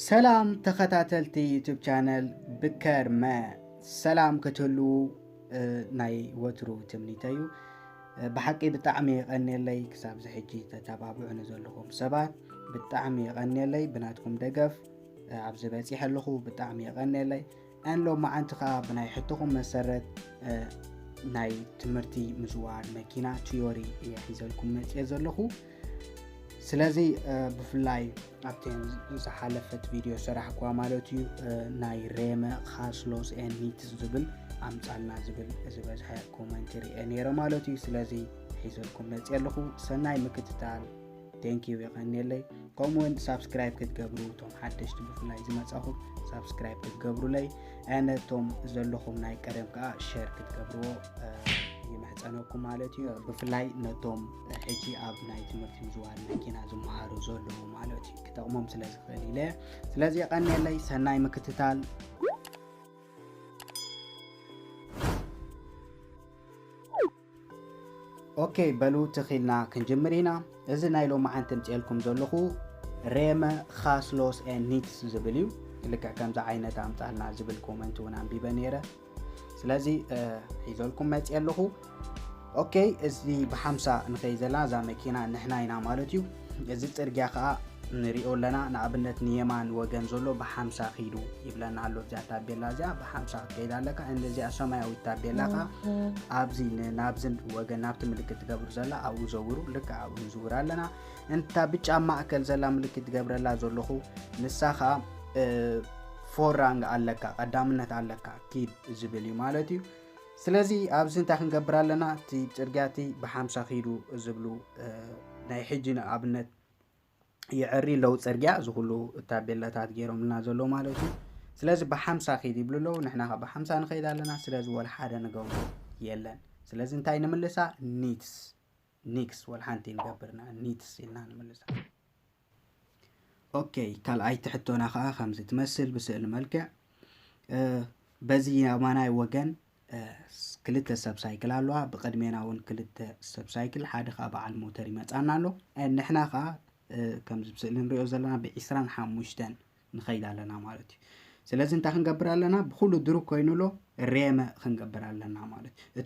ሰላም ተኸታተልቲ ዩቱብ ቻነል ብከርመ ሰላም ክትህልዉ ናይ ወትሩ ትምኒተዩ ብሓቂ ብጣዕሚ የቐንየለይ ክሳብ ዚ ሕጂ ተተባብዑ ንዘለኹም ሰባት ብጣዕሚ የቐንየለይ ብናትኩም ደገፍ ኣብዚ በፂሐ ኣለኹ ብጣዕሚ የቐንየለይ ናይ ሎማዓንቲ ከኣ ብናይ ሕቶኹም መሰረት ናይ ትምህርቲ ምዝዋር መኪና ትዮሪ እየ ሒዘልኩም መፅየ ዘለኹ ስለዚ ብፍላይ ኣብቲ ዝሓለፈት ቪድዮ ሰራሕኳ ማለት እዩ ናይ ሬመ ካስሎስ ኤኒትስ ዝብል ኣምፃልና ዝብል ዝበዝሐ ኮመንት ርአ ነይረ ማለት እዩ ስለዚ ሒዘልኩም መፅየ ኣለኹ ሰናይ ምክትታል ቴንኪዩ የቀኒየለይ ከምኡ ውን ሳብስክራይብ ክትገብሩ እቶም ሓደሽቲ ብፍላይ ዝመፃኹም ሳብስክራይብ ክትገብሩለይ ነቶም ዘለኹም ናይ ቀደም ከዓ ሸር ክትገብርዎ ይምሕፀነኩም ማለት እዩ ብፍላይ ነቶም ሕጂ ኣብ ናይ ትምህርቲ ምዝዋር መኪና ዝመሃሩ ዘለዉ ማለት እዩ ክጠቕሞም ስለ ዝኽእል ኢለ ስለዚ የቀኒየለይ ሰናይ ምክትታል ኦኬ በሉ ትኺልና ክንጅምር ኢና እዚ ናይ ሎማዓንቲ እምፅኤልኩም ዘለኹ ሬመ ካስሎስ ኤን ኒትስ ዝብል እዩ ልክዕ ከምዚ ዓይነት ኣምፃልና ዝብል ኮመንት እውን ኣንቢበ ነይረ ስለዚ ሒዘልኩም መፅ ኣለኹ ኦኬ እዚ ብሓምሳ ንኸይ ዘላ እዛ መኪና ንሕና ኢና ማለት እዩ እዚ ፅርግያ ከዓ ንሪኦ ኣለና ንኣብነት ንየማን ወገን ዘሎ ብሓምሳ ኪዱ ይብለና ኣሎ እዚኣ ታቤላ እዚኣ ብሓምሳ ክትከይድ ኣለካ እዚኣ ሰማያዊት ታቤላ ከዓ ኣብዚ ናብዚ ወገን ናብቲ ምልክት ትገብር ዘላ ኣብኡ ዘውሩ ልክዕ ኣብኡ ንዝውር ኣለና እንታ ብጫ ማእከል ዘላ ምልክት ትገብረላ ዘለኹ ንሳ ከዓ ፎራንግ ኣለካ ቀዳምነት ኣለካ ኪድ ዝብል እዩ ማለት እዩ ስለዚ ኣብዚ እንታይ ክንገብር ኣለና እቲ ጽርግያ እቲ ብሓምሳ ኪዱ ዝብሉ ናይ ሕጂ ንኣብነት የዕሪ ኣለዉ ፅርግያ እዚ ኩሉ ታቤላታት ገይሮምልና ዘለዉ ማለት እዩ ስለዚ ብሓምሳ ከይድ ይብሉ ኣለዉ ንሕና ካብ ብሓምሳ ንኸይድ ኣለና ስለዚ ወላ ሓደ ንገብሮ የለን ስለዚ እንታይ ንምልሳ ኒትስ ኒክስ ወልሓንቲ ንገብር ንሕን ኒትስ ኢልና ንምልሳ። ኦከይ ካልኣይቲ ሕቶና ከኣ ከምዚ ትመስል ብስእሊ መልክዕ በዚ ኣማናይ ወገን ክልተ ሰብ ሳይክል ኣለዋ ብቅድሜና እውን ክልተ ሰብ ሳይክል ሓደ ከዓ በዓል ሞተር ይመፃና ኣሎ ንሕና ከዓ ከምዚ ብስእሊ ንሪኦ ዘለና ብዒስራን ሓሙሽተን ንኸይድ ኣለና ማለት እዩ። ስለዚ እንታይ ክንገብር ኣለና? ብኹሉ ድሩክ ኮይኑሎ ሬመ ክንገብር ኣለና ማለት እዩ።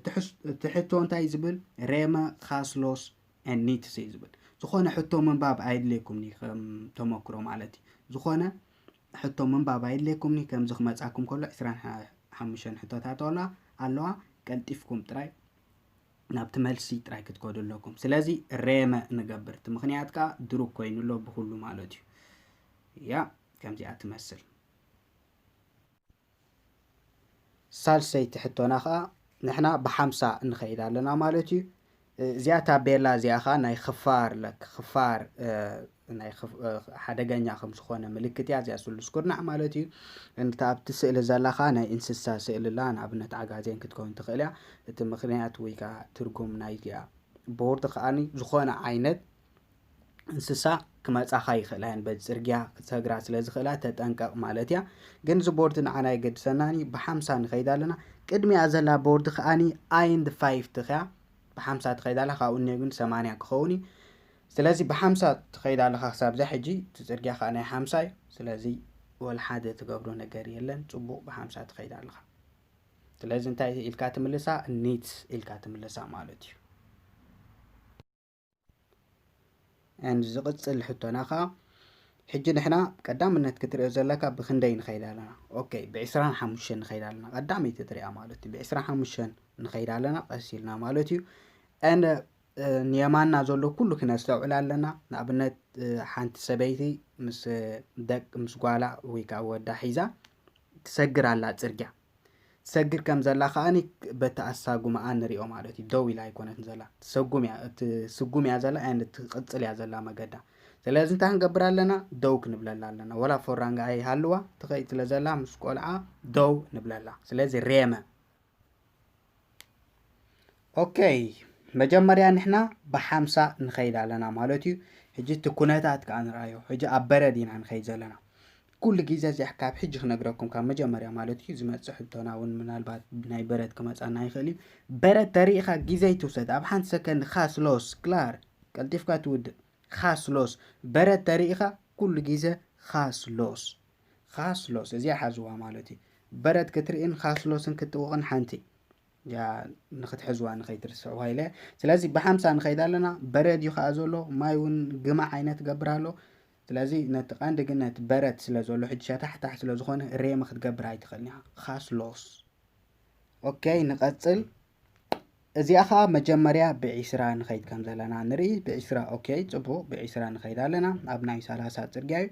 እቲ ሕቶ እንታይ እዩ ዝብል? ሬመ ካስሎስ ኤን ኒትስ እዩ ዝብል። ዝኾነ ሕቶ ምንባብ ኣየድልየኩምኒ ከም ተመክሮ ማለት እዩ። ዝኾነ ሕቶ ምንባብ ኣየድልየኩምኒ ከምዚ ክመጻኩም ከሎ ዕስራን ሓሙሽተን ሕቶታት ኣለዋ ኣለዋ ቀልጢፍኩም ጥራይ ናብቲ መልሲ ጥራይ ክትከዱ ኣለኩም ስለዚ ሬመ ንገብር እቲ ምክንያት ከዓ ድሩክ ኮይኑ ኣሎ ብኩሉ ማለት እዩ ያ ከምዚኣ ትመስል ሳልሰይቲ ሕቶና ከዓ ንሕና ብሓምሳ ንኸይድ ኣለና ማለት እዩ እዚኣ ታቤላ እዚኣ ከዓ ናይ ክፋር ለክ ክፋር ናይ ሓደገኛ ከም ዝኾነ ምልክት እያ እዚኣ ስሉስ ኩርናዕ ማለት እዩ እንታ ኣብቲ ስእሊ ዘላ ከዓ ናይ እንስሳ ስእሊ ኣላ ንኣብነት ዓጋዜን ክትከውን ትኽእል እያ እቲ ምክንያት ወይ ከዓ ትርጉም ናይዚኣ ቦርድ ከዓኒ ዝኾነ ዓይነት እንስሳ ክመፃኻ ይኽእላ እየን በዚ ፅርግያ ክሰግራ ስለ ዝኽእላ ተጠንቀቕ ማለት እያ ግን እዚ ቦርድ ንዓና የገድሰናን እዩ ብሓምሳ ንኸይድ ኣለና ቅድሚኣ ዘላ ቦርድ ከዓኒ ኣይንድ ፋይፍቲ ከያ ብሓምሳ ትኸይድ ኣላ ካብኡ እኒኦ ግን ሰማንያ ክኸውን እዩ ስለዚ ብሓምሳ ትኸይድ ኣለኻ ክሳብዛ ሕጂ እቲ ጽርግያ ከኣ ናይ ሓምሳ እዩ ስለዚ ወላ ሓደ ትገብሮ ነገር የለን ጽቡቕ ብሓምሳ ትኸይድ ኣለኻ ስለዚ እንታይ ኢልካ ትምልሳ ኒት ኢልካ ትምልሳ ማለት እዩ ኣንድ ዝቕጽል ሕቶና ከኣ ሕጂ ንሕና ቀዳምነት ክትሪኦ ዘለካ ብክንደይ ንኸይድ ኣለና ኦኬ ብዕስራን ሓሙሽተን ንኸይድ ኣለና ቀዳመይቲ ትሪኣ ማለት እዩ ብዕስራን ሓሙሽተን ንኸይድ ኣለና ቀስ ኢልና ማለት እዩ ንየማንና ዘሎ ኩሉ ክነስተውዕል ኣለና ንኣብነት ሓንቲ ሰበይቲ ምስ ደቅ ምስ ጓላ ወይ ከዓ ወዳ ሒዛ ትሰግር ኣላ ፅርግያ ትሰግር ከም ዘላ ከዓኒ በቲ ኣሳጉማኣ ንሪኦ ማለት እዩ ደው ኢላ ኣይኮነትን ዘላ ትሰጉም እያ ትስጉም እያ ዘላ ያን ትቕፅል እያ ዘላ መገዳ ስለዚ እንታይ ክንገብር ኣለና ደው ክንብለላ ኣለና ወላ ፎራንጋ ኣይሃልዋ ትኸይድ ስለ ዘላ ምስ ቆልዓ ደው ንብለላ ስለዚ ሬመ ኦከይ መጀመርያ ንሕና ብሓምሳ ንኸይድ ኣለና ማለት እዩ ሕጂ እቲ ኩነታት ከዓ ንርኣዮ ሕጂ ኣብ በረድ ኢና ንኸይድ ዘለና ኩሉ ግዜ እዚኣ ካብ ሕጂ ክነግረኩም ካብ መጀመርያ ማለት እዩ ዝመፅእ ሕቶና እውን ምናልባት ናይ በረድ ክመፃና ይኽእል እዩ በረድ ተሪኢኻ ግዜ ይትውሰድ ኣብ ሓንቲ ሰከንድ ካስሎስ ክላር ቀልጢፍካ ትውድእ ካስሎስ በረድ ተሪኢኻ ኩሉ ግዜ ካስሎስ ኻስሎስ እዚኣ ሓዝዋ ማለት እዩ በረድ ክትርእን ኻስሎስን ክትጥውቕን ሓንቲ ያ ንክትሕዝዋ ንኸይትርስዕዋ ኢለ ስለዚ ብሓምሳ ንኸይድ ኣለና በረድ እዩ ከዓ ዘሎ ማይ እውን ግማዕ ዓይነት ገብር ኣሎ ስለዚ ነቲ ቀንዲ ግን ነቲ በረድ ስለ ዘሎ ሕጂ ሸታሕታሕ ስለ ዝኾነ ሬም ክትገብር ኣይትኽእልን ኢኻ ኻስሎስ ኦኬይ ንቐፅል እዚኣ ከዓ መጀመርያ ብዒስራ ንኸይድ ከም ዘለና ንርኢ ብዒስራ ኦኬ ፅቡቅ ብዒስራ ንኸይድ ኣለና ኣብ ናይ ሰላሳ ፅርግያ እዩ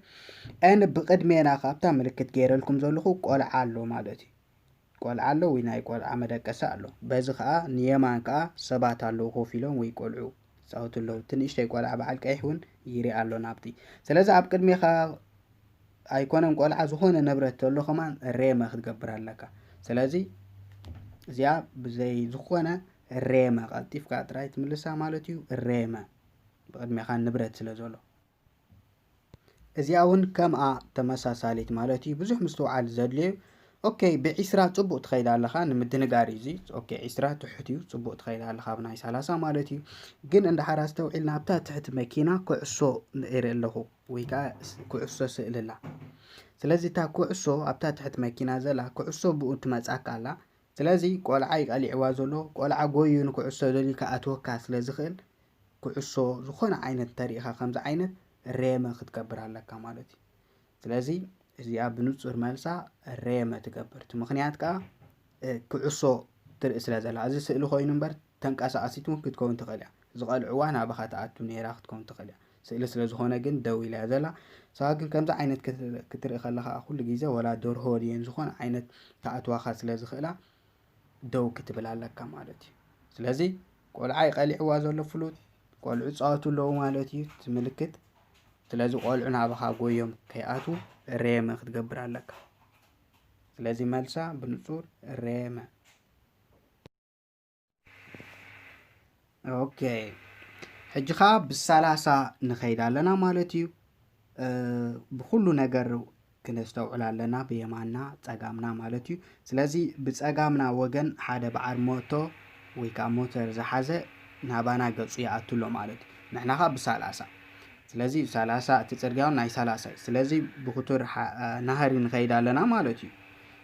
ን ብቅድሜና ካብታ ምልክት ገይረልኩም ዘለኹ ቆልዓ ኣሎ ማለት እዩ ቆልዓ ኣሎ ወይ ናይ ቆልዓ መደቀሲ ኣሎ በዚ ከዓ ንየማን ከዓ ሰባት ኣለዉ ኮፍ ኢሎም ወይ ቆልዑ ይጻወቱ ኣለዉ እቲ ንእሽተይ ቆልዓ በዓል ቀይሕ እውን ይርኣ ኣሎ ናብቲ ስለዚ ኣብ ቅድሜኻ ኣይኮነን ቆልዓ ዝኾነ ንብረት ተሎ ከማን ሬመ ክትገብር ኣለካ ስለዚ እዚኣ ብዘይ ዝኾነ ሬመ ቀልጢፍካ ጥራይ ትምልሳ ማለት እዩ ሬመ ብቅድሜኻ ንብረት ስለ ዘሎ እዚኣ ውን ከምኣ ተመሳሳሊት ማለት እዩ ብዙሕ ምስትውዓል ዘድልዮ እዩ ኦኬ ብዒስራ ፅቡቅ ትኸይድ ኣለኻ ንምድንጋር እዩ እዚ ኦኬ ዒስራ ትሑት እዩ ፅቡቅ ትኸይድ ኣለኻ ኣብ ናይ ሰላሳ ማለት እዩ ግን እንድሓር ኣስተውዒልና ኣብታ ትሕቲ መኪና ኩዕሶ እርኢ ኣለኹ ወይ ከዓ ኩዕሶ ስእሊ ኣላ ስለዚ እታ ኩዕሶ ኣብታ ትሕቲ መኪና ዘላ ኩዕሶ ብኡ ትመፃካ ኣላ ስለዚ ቆልዓ ዩ ቀሊዕዋ ዘሎ ቆልዓ ጎይዩ ንኩዕሶ ደልዩ ክኣትወካ ስለ ዝኽእል ኩዕሶ ዝኾነ ዓይነት እንተሪኢኻ ከምዚ ዓይነት ሬመ ክትገብር ኣለካ ማለት ዩ ስለዚ እዚኣ ብንጹር መልሳ ሬመ ትገብር እቲ ምኽንያት ከኣ ኩዕሶ ትርኢ ስለ ዘላ እዚ ስእሊ ኮይኑ እምበር ተንቀሳቓሲት እውን ክትከውን ትኽእል እያ። ዝቐልዑዋ ናባኻ ትኣቱ ነይራ ክትከውን ትኽእል እያ። ስእሊ ስለ ዝኾነ ግን ደው ኢላ እያ ዘላ። ንስኻ ግን ከምዚ ዓይነት ክትርኢ ከለኻ ኩሉ ግዜ ወላ ደርሆ ድየን ዝኾነ ዓይነት ክኣትዋኻ ስለ ዝኽእላ ደው ክትብል ኣለካ ማለት እዩ። ስለዚ ቆልዓ እዩ ቀሊዕዋ ዘሎ ፍሉጥ ቆልዑ ይፃወቱ ኣለዉ ማለት እዩ እቲ ምልክት። ስለዚ ቆልዑ ናባኻ ጎዮም ከይኣትዉ እሬመ ክትገብር ኣለካ። ስለዚ መልሳ ብንጹር እሬመ ኦኬ ሕጂ ከዓ ብሰላሳ ንኸይድ ኣለና ማለት እዩ ብኩሉ ነገር ክነስተውዕል ኣለና ብየማና ፀጋምና ማለት እዩ ስለዚ ብፀጋምና ወገን ሓደ በዓል ሞቶ ወይ ከዓ ሞተር ዝሓዘ ናባና ገፁ ይኣቱ ኣሎ ማለት እዩ ንሕና ከዓ ብሰላሳ ስለዚ ሰላሳ እቲ ፅርግያውን ናይ ሰላሳ እዩ ስለዚ ብክቱር ናህሪ ንኸይድ ኣለና ማለት እዩ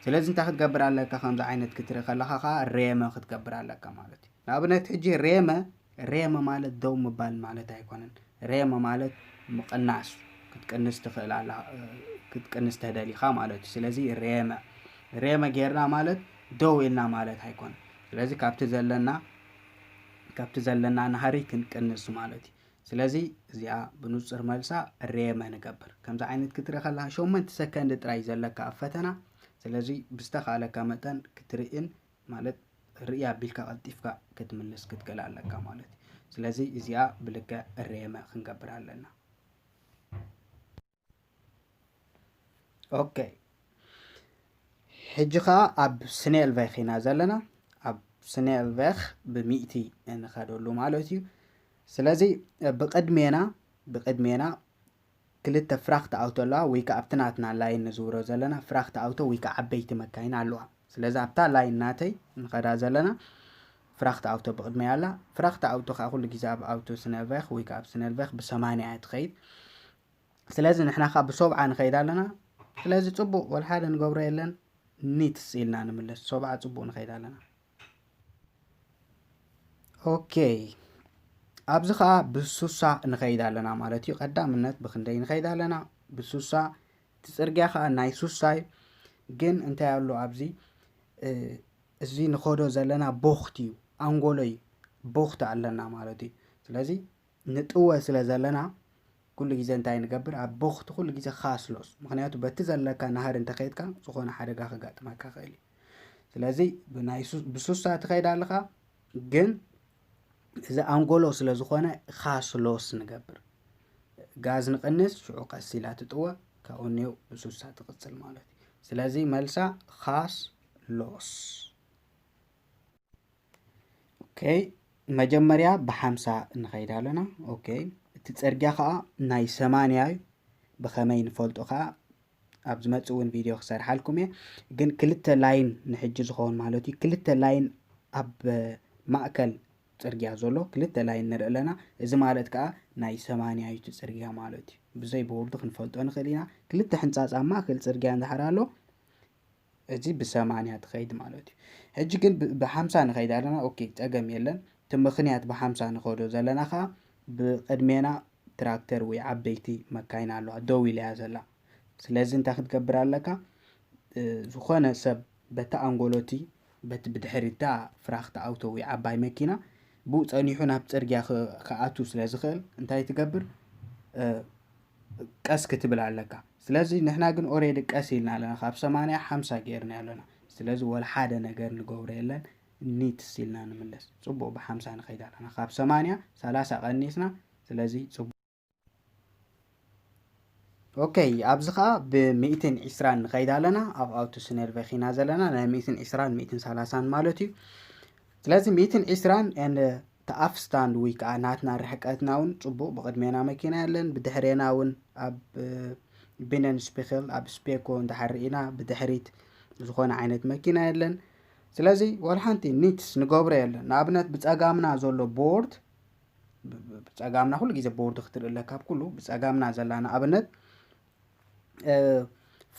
ስለዚ እንታይ ክትገብር ኣለካ ከምዚ ዓይነት ክትርኢ ከለኻ ከኣ ሬመ ክትገብር ኣለካ ማለት እዩ ንኣብነት ሕጂ ሬመ ሬመ ማለት ደው ምባል ማለት ኣይኮነን ሬመ ማለት ምቕናስ ክትቅንስ ትኽእል ኣላ ክትቅንስ ተደሊኻ ማለት እዩ ስለዚ ሬመ ሬመ ጌርና ማለት ደው ኢልና ማለት ኣይኮነን ስለዚ ካብቲ ዘለና ካብቲ ዘለና ናህሪ ክንቅንስ ማለት እዩ ስለዚ እዚኣ ብኑጽር መልሳ ሬመ ንገብር ከምዚ ዓይነት ክትርኢ ከለካ ሸሞንተ ሰከንድ ጥራይ ዘለካ ኣብ ፈተና ስለዚ ብዝተካለካ መጠን ክትርእን ማለት ርእያ ኣቢልካ ቀልጢፍካ ክትምልስ ክትክእል ኣለካ ማለት እዩ ስለዚ እዚኣ ብልክዕ ሬመ ክንገብር ኣለና ኦኬ ሕጂ ከዓ ኣብ ስኔልቬክ ኢና ዘለና ኣብ ስኔልቬክ ብሚእቲ እንኸደሉ ማለት እዩ ስለዚ ብቅድሜና ብቅድሜና ክልተ ፍራክት ኣውቶ ኣለዋ ወይ ከዓ ኣብቲ ናትና ላይን ንዝውሮ ዘለና ፍራክት ኣውቶ ወይ ከዓ ዓበይቲ መካይን ኣለዋ ስለዚ ኣብታ ላይን ናተይ ንኸዳ ዘለና ፍራክት ኣውቶ ብቅድሜያ ኣላ ፍራክት ኣውቶ ከዓ ኩሉ ግዜ ኣብ ኣውቶ ስነልቬክ ወይ ከዓ ኣብ ስነልቬክ ብሰማንያ እያ ትኸይድ ስለዚ ንሕና ከኣ ብሶብዓ ንኸይድ ኣለና ስለዚ ጽቡቅ ወልሓደ ንገብሮ የለን ኒትስ ኢልና ንምለስ ሶብዓ ጽቡቅ ንኸይድ ኣለና ኦኬይ ኣብዚ ከኣ ብሱሳ ንኸይድ ኣለና ማለት እዩ ቀዳምነት ብክንደይ ንኸይድ ኣለና ብሱሳ እቲ ጽርግያ ከኣ ናይ ሱሳ እዩ ግን እንታይ ኣሎ ኣብዚ እዚ ንኸዶ ዘለና ቦኽት እዩ ኣንጎሎ እዩ ቦኽት ኣለና ማለት እዩ ስለዚ ንጥወ ስለ ዘለና ኩሉ ግዜ እንታይ ንገብር ኣብ ቦኽቲ ኩሉ ግዜ ካስሎስ ምክንያቱ በቲ ዘለካ ናህሪ እንተኸይድካ ዝኾነ ሓደጋ ከጋጥመካ ይኽእል እዩ ስለዚ ብናይ ብሱሳ ትኸይድ ኣለኻ ግን እዚ ኣንጎሎ ስለ ዝኾነ ካስሎስ ንገብር ጋዝ ንቕንስ ሽዑ ቀስ ኢላ ትጥወ ካብኡ ኔው ብሱሳ ትቕፅል ማለት እዩ ስለዚ መልሳ ካስ ሎስ ኦኬ መጀመርያ ብሓምሳ ንኸይድ ኣለና ኦኬ እቲ ፅርግያ ከዓ ናይ ሰማንያ እዩ ብኸመይ ንፈልጦ ከዓ ኣብ ዝመፅእ እውን ቪድዮ ክሰርሓልኩም እየ ግን ክልተ ላይን ንሕጂ ዝኸውን ማለት እዩ ክልተ ላይን ኣብ ማእከል ፅርግያ ዘሎ ክልተ ላይን ንርኢ ኣለና እዚ ማለት ከዓ ናይ ሰማንያ እዩ እቲ ፅርግያ ማለት እዩ ብዘይ ብውርዱ ክንፈልጦ ንኽእል ኢና ክልተ ሕንፃፅ ኣብ ማእከል ፅርግያ እንድሕር ኣሎ እዚ ብሰማንያ ትኸይድ ማለት እዩ ሕጂ ግን ብሓምሳ ንኸይድ ኣለና ኦኬ ጸገም የለን እቲ ምኽንያት ብሓምሳ ንኸዶ ዘለና ከዓ ብቅድሜና ትራክተር ወይ ዓበይቲ መካይን ኣለዋ ደው ኢላ እያ ዘላ ስለዚ እንታይ ክትገብር ኣለካ ዝኾነ ሰብ በቲ ኣንጎሎቲ በቲ ብድሕሪታ ፍራክቲ ኣውቶ ወይ ዓባይ መኪና ብኡ ጸኒሑ ናብ ጽርግያ ክኣቱ ስለ ዝኽእል እንታይ ትገብር ቀስ ክትብል ኣለካ ስለዚ ንሕና ግን ኦሬዲ ቀስ ኢልና ኣለና ካብ ሰማንያ ሓምሳ ገይርና ኣለና ስለዚ ወላ ሓደ ነገር ንገብሮ የለን ኒትስ ኢልና ንምለስ ፅቡቅ ብሓምሳ ንኸይድ ኣለና ካብ ሰማንያ ሰላሳ ቀኒስና ስለዚ ፅቡቅ ኦከይ ኣብዚ ከዓ ብሚእትን ዒስራን ንኸይድ ኣለና ኣብ ኣውቶ ስነርቨክ ኢና ዘለና ናይ ሚእትን ዒስራን ሚእትን ሰላሳን ማለት እዩ ስለዚ ሚእትን ዒስራን እቲ ኣፍስታንድ ወይ ከዓ ናትና ርሕቀትና እውን ፅቡቕ ብቕድሜና መኪና የለን ብድሕሬና እውን ኣብ ቢነን ስፒክል ኣብ ስፔኮ እንዳሓር ኢና ብድሕሪት ዝኾነ ዓይነት መኪና የለን ስለዚ ወላ ሓንቲ ኒትስ ንገብሮ የለን ንኣብነት ብፀጋምና ዘሎ ቦርድ ብፀጋምና ኩሉ ግዜ ቦርድ ክትርኢ ኣለካ ኣብ ኩሉ ብፀጋምና ዘላ ንኣብነት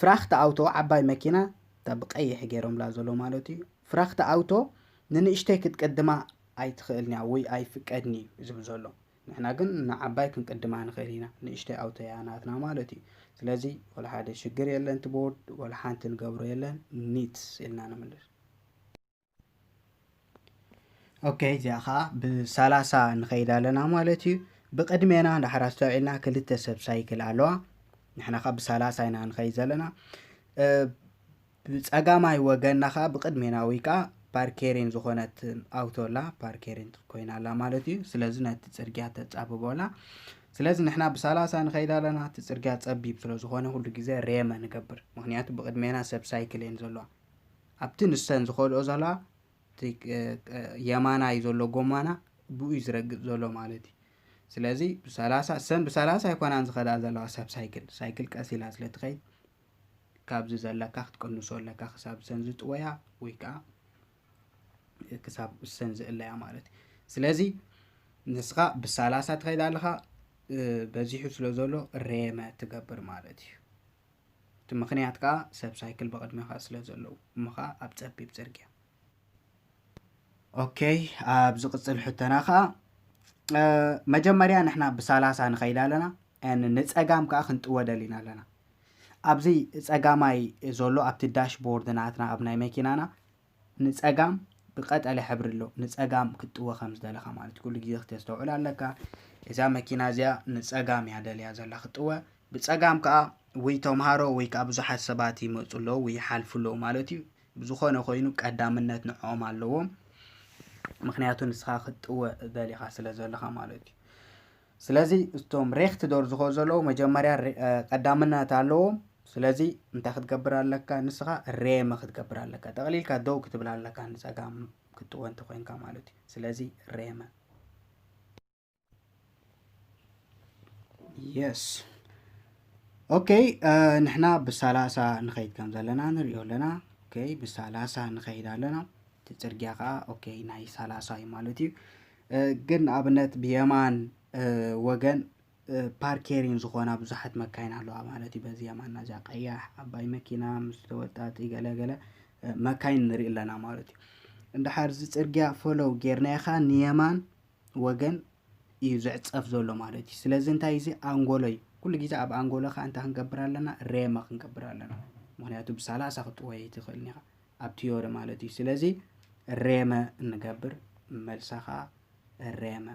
ፍራክት ኣውቶ ዓባይ መኪና እታ ብቀይሕ ገይሮምላ ዘሎ ማለት እዩ ፍራክት ኣውቶ ንንእሽተይ ክትቅድማ ኣይትኽእልን እያ ወይ ኣይፍቀድን እዩ ዝብል ዘሎ ንሕና ግን ንዓባይ ክንቅድማ ንኽእል ኢና ንእሽተይ ኣውቶ እያ ናትና ማለት እዩ ስለዚ ወላ ሓደ ሽግር የለን እቲ ቦርድ ወላ ሓንቲ ንገብሮ የለን ኒት ኢልና ንምልስ ኦኬ እዚኣ ከዓ ብሰላሳ ንኸይድ ኣለና ማለት እዩ ብቅድሜና ዳሕር ኣስተውዒልና ክልተ ሰብ ሳይክል ኣለዋ ንሕና ከዓ ብሰላሳ ኢና ንኸይድ ዘለና ብፀጋማይ ወገንና ከዓ ብቅድሜና ወይ ከዓ ፓርኬሪን ዝኾነት ኣውቶ ኣላ ፓርኬሪን ኮይና ኣላ ማለት እዩ ስለዚ ነቲ ፅርግያ ተፃብቦ ኣላ ስለዚ ንሕና ብሰላሳ ንኸይድ ኣለና እቲ ፅርግያ ፀቢብ ስለዝኾነ ኩሉ ግዜ ሬመ ንገብር ምክንያቱ ብቅድሜና ሰብ ሳይክል እየን ዘለዋ ኣብቲ ንሰን ዝኸድኦ ዘለዋ እቲ የማናይ ዘሎ ጎማና ብኡ እዩ ዝረግፅ ዘሎ ማለት እዩ ስለዚ ብሰላሳ እሰን ብሰላሳ ኣይኮናን ዝኸዳ ዘለዋ ሰብ ሳይክል ሳይክል ቀስ ኢላ ስለ ትኸይድ ካብዚ ዘለካ ክትቅንሶ ኣለካ ክሳብ እሰን ዝጥወያ ወይ ከዓ ክሳብ እሰን ዝእለያ ማለት እዩ ስለዚ ንስኻ ብሰላሳ ትኸይድ ኣለኻ በዚሑ ስለ ዘሎ ሬመ ትገብር ማለት እዩ እቲ ምኽንያት ከኣ ሰብ ሳይክል ብቕድሜኻ ስለ ዘለዉ እሞ ከኣ ኣብ ጸቢብ ጽርግያ ኦከይ ኣብ ዝቕጽል ሕቶና ከኣ መጀመርያ ንሕና ብሳላሳ ንኸይድ ኣለና ንጸጋም ከኣ ክንጥወ ደሊና ኣለና ኣብዚ ጸጋማይ ዘሎ ኣብቲ ዳሽቦርድ ናትና ኣብ ናይ መኪናና ንጸጋም ብቀጠልያ ሕብሪ ኣሎ ንጸጋም ክትጥወ ከም ዝደለኻ ማለት ኩሉ ግዜ ክተስተውዕል ኣለካ እዛ መኪና እዚኣ ንጸጋም እያ ደልያ ዘላ ክትጥወ ብጸጋም ከኣ ወይ ተምሃሮ ወይ ከኣ ብዙሓት ሰባት ይመጹ ኣለዉ ወይ ይሓልፉ ኣለዉ ማለት እዩ ብዝኾነ ኮይኑ ቀዳምነት ንዕኦም ኣለዎም ምክንያቱ ንስኻ ክትጥወ ደሊኻ ስለ ዘለኻ ማለት እዩ ስለዚ እቶም ሬክት ዶር ዝኾ ዘለዉ መጀመርያ ቀዳምነት ኣለዎም ስለዚ እንታይ ክትገብር ኣለካ ንስኻ ሬመ ክትገብር ኣለካ ጠቕሊልካ ደው ክትብል ኣለካ ንፀጋም ክትወ እንተኮይንካ ማለት እዩ ስለዚ ሬመ የስ ኦኬ ንሕና ብሰላሳ ንኸይድ ከም ዘለና ንሪኦ ኣለና ኦኬ ብሰላሳ ንኸይድ ኣለና እቲ ፅርግያ ከዓ ኦኬ ናይ ሰላሳ እዩ ማለት እዩ ግን ንኣብነት ብየማን ወገን ፓርኬሪን ዝኾና ብዙሓት መካይን ኣለዋ ማለት እዩ። በዚ የማና እዚኣ ቀያሕ ዓባይ መኪና ምስ ተወጣጢ ገለገለ መካይን ንርኢ ኣለና ማለት እዩ። እንድሓር እዚ ፅርግያ ፈለው ጌርናዮ ከዓ ንየማን ወገን እዩ ዝዕፀፍ ዘሎ ማለት እዩ። ስለዚ እንታይ እዚ ኣንጎሎ እዩ። ኩሉ ግዜ ኣብ ኣንጎሎኻ እንታይ ክንገብር ኣለና ሬመ ክንገብር ኣለና። ምክንያቱ ብሳላሳ ክትጥወይ ኣይትኽእልን ኢኻ። ኣብ ትዮሪ ማለት እዩ ስለዚ ሬመ እንገብር መልሳ ከዓ ሬመ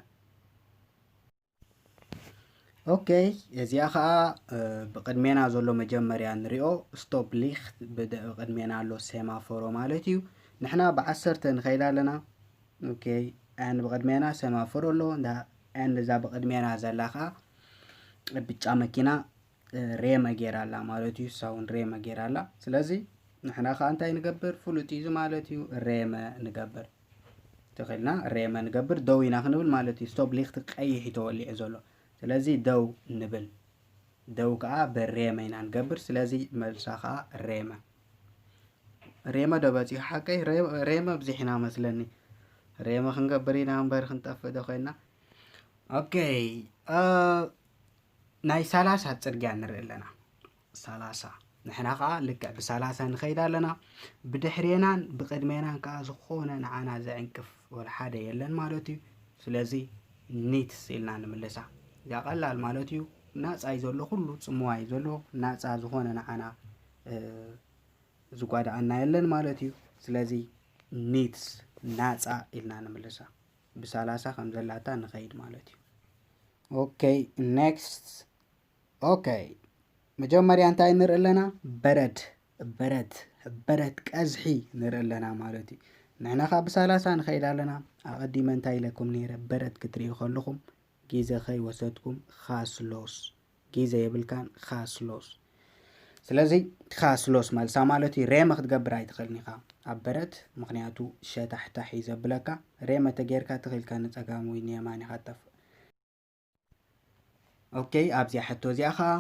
ኦኬ እዚኣ ከዓ ብቅድሜና ዘሎ መጀመርያ ንሪኦ ስቶፕ ሊክት ብቅድሜና ኣሎ ሴማፎሮ ማለት እዩ ንሕና ብዓሰርተ ንኸይድ ኣለና ኦኬ ን ብቅድሜና ሴማፎሮ ኣሎ ን እዛ ብቅድሜና ዘላ ከዓ ብጫ መኪና ሬመ ጌራ ኣላ ማለት እዩ እሳ እውን ሬመ ጌራ ኣላ ስለዚ ንሕና ከዓ እንታይ ንገብር ፍሉጥ እዩ እዚ ማለት እዩ ሬመ ንገብር ተኺልና ሬመ ንገብር ደው ኢና ክንብል ማለት እዩ ስቶብ ሊክቲ ቀይሕ እዩ ተወሊዑ ዘሎ ስለዚ ደው ንብል ደው ከዓ ብሬመ ኢና ንገብር ስለዚ መልሳ ከዓ ሬመ ሬመ ዶ በፂሑ ሓቀይ ሬመ ብዚሕና መስለኒ ሬመ ክንገብር ኢና እምበር ክንጠፍእ ዶ ኮይና ኦኬ ናይ ሳላሳ ጽርግያ ንርኢ ኣለና ሳላሳ ንሕና ከዓ ልክዕ ብሳላሳ ንኸይድ ኣለና ብድሕሬናን ብቅድሜናን ከዓ ዝኾነ ንዓና ዘዕንቅፍ ወላ ሓደ የለን ማለት እዩ ስለዚ ኒትስ ኢልና ንምልሳ እዚያ ቀላል ማለት እዩ ናፃ እዩ ዘሎ ኩሉ ፅምዋ እዩ ዘሎ ናፃ ዝኾነ ንዓና ዝጓዳኣና የለን ማለት እዩ ስለዚ ኒትስ ናፃ ኢልና ንምልሳ ብሳላሳ ከም ዘላታ ንኸይድ ማለት እዩ ኦከይ ኔክስት ኦከይ መጀመርያ እንታይ ንርኢ ኣለና በረድ በረድ በረድ ቀዝሒ ንርኢ ኣለና ማለት እዩ ንሕና ካብ ብሳላሳ ንኸይድ ኣለና ኣቐዲመ እንታይ ኢለኩም ነይረ በረድ ክትርእዩ ከለኹም ጊዘ ከይ ወሰድኩም ኻስሎስ ጊዘ የብልካን ኻስሎስ ስለዚ ኻስሎስ መልሳ ማለት እዩ ሬመ ክትገብር ኣይትኽእልን ኢኻ ኣብ በረት ምክንያቱ ሸታሕታሕ እዩ ዘብለካ ሬመ ተጌርካ ትኽኢልካ ንፀጋም ወይ ንየማን ኢኻ ጠፍእ ኦኬ ኣብዚኣ ሕቶ እዚኣ ኸዓ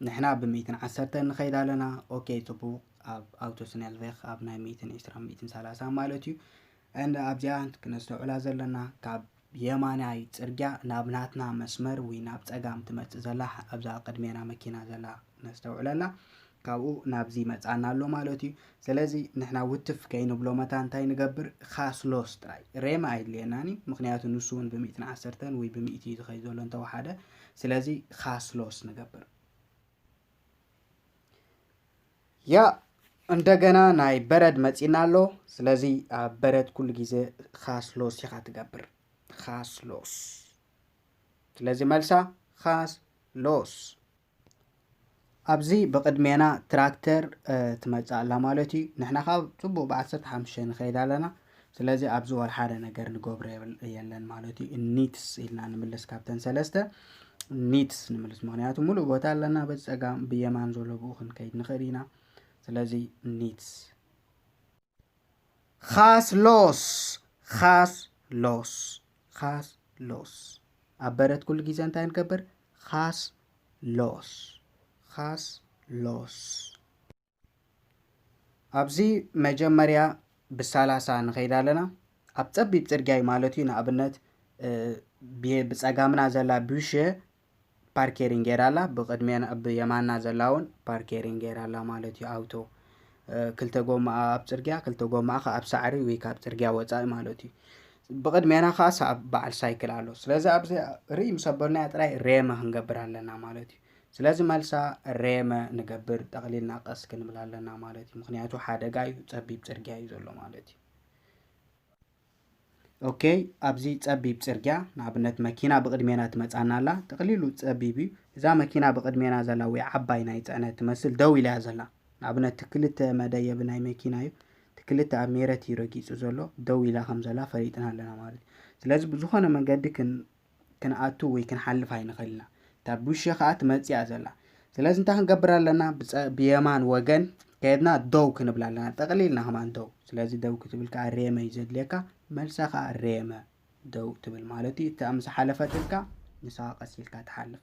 ንሕና ብ ሚእትን ዓሰርተን ንኸይድ ኣለና ኦኬ ጽቡቅ ኣብ ኣውቶስነልቬክ ኣብ ናይ ሚእትን ዕስራን ሚእትን ሰላሳን ማለት እዩ and ኣብዚኣ ክነስተውዕላ ዘለና ካብ የማናይ ጽርግያ ናብ ናትና መስመር ውይ ናብ ጸጋም ትመጽእ ዘላ ኣብዛ ቅድሜና መኪና ዘላ ነስተውዕለላ ካብኡ ናብዚ መጻና ኣሎ ማለት እዩ ስለዚ ንሕና ውትፍ ከይንብሎ መታ እንታይ ንገብር ካስሎስ ጥራይ ሬማ ኣይድልየናን እዩ ምክንያቱ ንሱ እውን ብሚእትን ዓሰርተን ወይ ብሚእቲ እዩ ዝኸይ ዘሎ እንተወሓደ ስለዚ ካስሎስ ንገብር ያ እንደገና ናይ በረድ መፂና ኣሎ ስለዚ ኣብ በረድ ኩሉ ግዜ ካስሎስ ኢኻ ትገብር ካስሎስ ስለዚ መልሳ ካስሎስ ኣብዚ ብቕድሜና ትራክተር ትመጽእ ኣላ ማለት እዩ ንሕና ካብ ጽቡቕ ብዓሰርተ ሓሙሽተ ንኸይድ ኣለና ስለዚ ኣብዚ ወላ ሓደ ነገር ንገብሮ የለን ማለት እዩ ኒትስ ኢልና ንምልስ ካብተን ሰለስተ ኒትስ ንምልስ ምክንያቱ ሙሉእ ቦታ ኣለና በዚ ፀጋም ብየማን ዘሎ ብኡ ክንከይድ ንኽእል ኢና ስለዚ ኒትስ ኻስ ሎስ ኻስ ሎስ ኻስ ሎስ ኣብ በረት ኩሉ ግዜ እንታይ ንገብር ኻስ ሎስ ኻስ ሎስ ኣብዚ መጀመርያ ብሳላሳ ንኸይድ ኣለና ኣብ ፀቢብ ፅርግያ እዩ ማለት እዩ ንኣብነት ብፀጋምና ዘላ ቢሸ ፓርኬሪንግ ጌራ ኣላ ብቅድሜና ኣብ የማና ዘላ ውን ፓርኬሪንግ ጌራ ኣላ ማለት እዩ ኣውቶ ክልተ ጎማኣ ኣብ ጽርግያ ክልተ ጎማኣ ከኣ ኣብ ሳዕሪ ወይ ካብ ጽርግያ ወጻኢ ማለት እዩ ብቅድሜና ከኣ ሰኣብ በዓል ሳይክል ኣሎ ስለዚ ኣብዚ ርኢ ምስ ኣበልናያ ጥራይ ሬመ ክንገብር ኣለና ማለት እዩ ስለዚ መልሳ ሬመ ንገብር ጠቅሊልና ቀስ ክንብል ኣለና ማለት እዩ ምክንያቱ ሓደጋ እዩ ጸቢብ ጽርግያ እዩ ዘሎ ማለት እዩ ኦኬ ኣብዚ ጸቢብ ጽርግያ ንኣብነት መኪና ብቕድሜና ትመጻና ኣላ ጠቕሊሉ ጸቢብ እዩ እዛ መኪና ብቕድሜና ዘላ ወይ ዓባይ ናይ ጽዕነት ትመስል ደው ኢላ ዘላ ንኣብነት እቲ ክልተ መደየቢ ናይ መኪና እዩ እቲ ክልተ ኣብ ሜረት እዩ ረጊጹ ዘሎ ደው ኢላ ከም ዘላ ፈሊጥና ኣለና ማለት እዩ ስለዚ ብዝኾነ መንገዲ ክንኣቱ ወይ ክንሓልፍ ኣይንኽእል ኢና። እታ ቡሸ ከኣ ትመጽእያ ዘላ። ስለዚ እንታይ ክንገብር ኣለና? ብየማን ወገን ከድና ደው ክንብል ኣለና። ጠቕሊልና ከማን ደው። ስለዚ ደው ክትብል ከኣ ሬመ እዩ ዘድልየካ። መልሳ ከኣ ሬመ ደው ትብል ማለት እዩ። እታ ምስ ሓለፈትልካ ንሳ ቀስ ኢልካ ትሓልፍ።